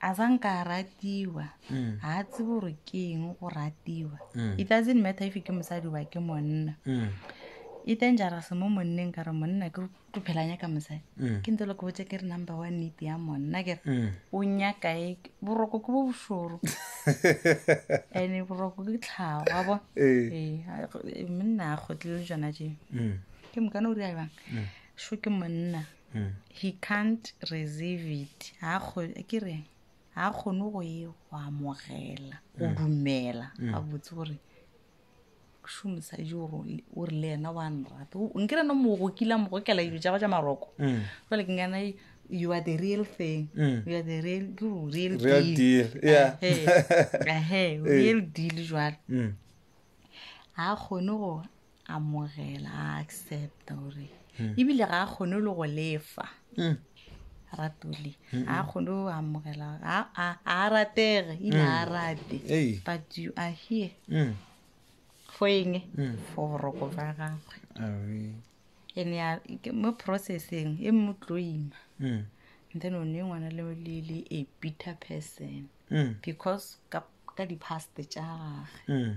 a sa nka a ratiwa Mm. ga a tsebe gore ke eng go ratiwa Mm. it doesn't matter if ke mosadi ba ke monna Mm. e dangerous mo monneng ka re monna ke tlo phela nyaka mosadi Mm. ke ntse le ko botse ke re number one need ya monna ke re Mm. o nyaka e boroko ke bo bošoro and boroko ke tlhago wa bona Eh. Ee, a- go- e, monna a kgotlele jona je Mm. ke mokana o diabang sho ke monna He can't receive it. Ha kgo ke re ha khone go e go amogela, go mm. dumela. Ba mm. botse gore shu mosadi o o re le yena wa nrata. O nkira no mo go kila mo go kela dilo tsa go tsa maroko. Mm. Jwale ke ngana you are the real thing. Mm. You are the real real, real deal. Real deal. Yeah. Eh, eh, real deal jwale. Mm. Ha khone go amogela a accepta gore hmm. ebile ga a kgone le go lefa hmm. ratole hmm. a kgone go amogela a ratege ebile a rate but you are here for eng for boroko ba gagwe ene mo processing e mo tlo ima and then o ne ngwana le le a bitter person because ka di-past tša gage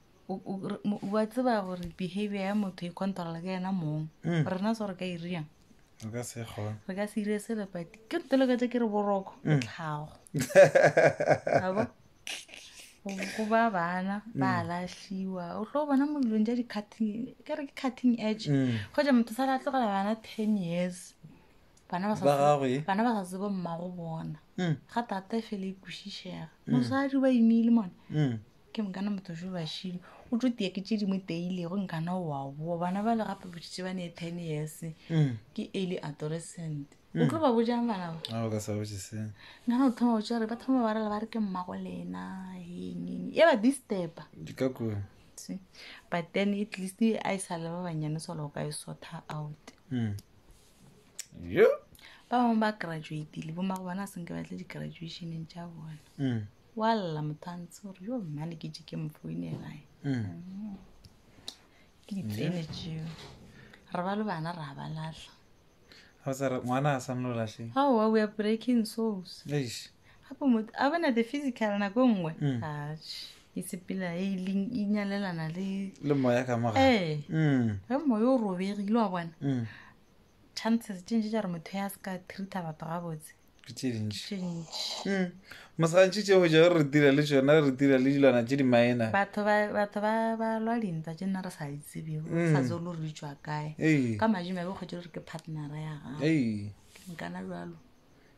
wa tseba gore behavior ya motho e controla ke yena mong mm. rena so re ka iriang re ka se ire se lepati ke nteloketse ke re boroko ke mm. tlhago abo go ba bana ba mm. latlhiwa o tlo bona mo dilong ja di-cutting ke re ke cutting edge go ja motho sa la tlogela bana ten years bana ba sa tsebo mmago bona ga tate fele e kwešišega mosadi ba imile mone ke nkana motho jo bašilo o tlo tiya ke tše dingwe teilego nkana o a boa bana ba le gape boditše ba ne ten years mm. ke early adolescent o mm. tlo ba bojang bana ba ah, nkana o thoma botsa gore ba thoma ba rela ba re ke mmago lena eng e ba distuba but then at least a e sa le ba banyane solo o ka e sotha out mm. ba bangwe ba graduatile bo mago bona a senke batle di-graduationeng tša bona wa lla motantsi gore yo mmane ke je ke mofoinelae mm. ke diplane jeo re ba le bana ra ba latlha ngwana a sanolo latlheng aowa we are breaking souls gape motho a bona the physical nako e nngwe mm. ache e sepela e leng e nyalelana le le moya ka moga ee mm. ge moya o robegile wa bona chances tše ntši tša gore motho ya se ka treata batho gabotse ke tše dintši tše ntši Mm. mosegantši tše go ja re dira le tšona re dira le dilwana tše di minor batho ba batho ba ba lwa dintwa tše nna re sa di tsebego re sa tseo lo re di tšwa kae Mm. Ee. ka madimo a be kgwetše gore ke partnera ya gago Ei, nkana jalo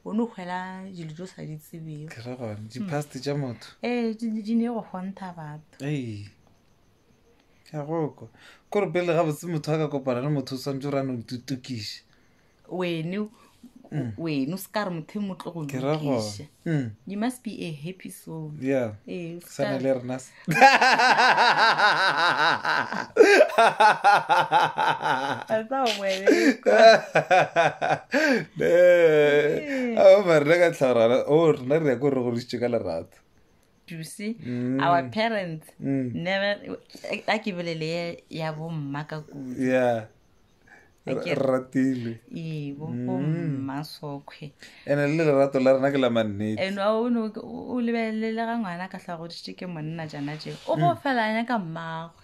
o ne o kgwela dilo tse o sa di tsebego ke ra gona dipast tša motho ee di di ne go kgontha batho Ei, ka goko kore pele ga botse motho a ka kopana le motho o swantse o rano tutukiše wene Mm. wene o se ka re motho e motlo go ke ra go lokiša Mm, you must be a happy soul yeah Ee, o se sana ka- le rena se. I thought wene Ne, ao mare rena ka tlhagorana o rena re ya ko re gorisitše ka lerato duse mm. our parents mm. never a ke bolele ya bomma ka kudu yeah ratile ee bomma mm. sokhwe ene le lerato la rena ke la mannete ene o lebelele ga ngwana ka tlhagoditše ke monna jana je o go felanya ka mmagwe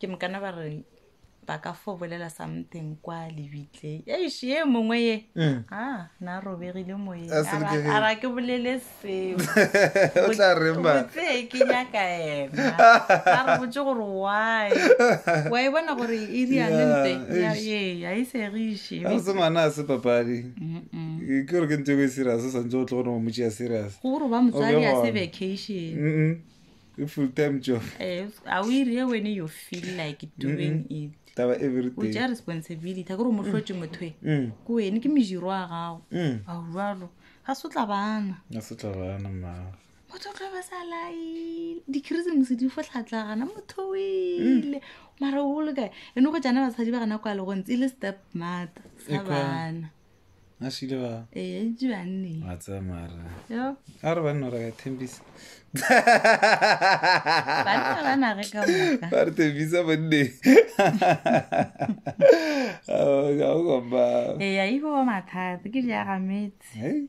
ke mokana ba re ba ka fo bolela something kwa lebitleng eish ye mongwe ye Mm. a na robegile A selekegile. moyeng ara ke bolele seo O tla reng ba? Botse ke nyaka ena a re botse gore why wa e bona gore e riane Yeah, nte ya- eish. ee ga e segiše ga se ngwana a se papadi Ke- ke gore ke ntho e serious o santse o tle gore o motšea serious go gore ba motswadi a se Obe gone. vacation Mm-mm. ke full time job Eh, a o ire wene you feel like doing it taba o everyday tša responsibility a ke re o mo hlotše motho e Mm, ke wene ke mediro a gago mm. ao jalo ga se o tla bana a se tla bana mmago motho o tlo ba sa laile dikrisemose di fotlhatlagana motho o ile mara o le kae eno go jana basadi ba gana kwa legontse e le step mata sa Ekwa. bana a šile ba ee itse banne a tsaya mara yo a re banna ra ka thembisa banna ba na re ka moka ba re thembisa banne ga o komba ee a iko ba mathata ke di agametse Hei,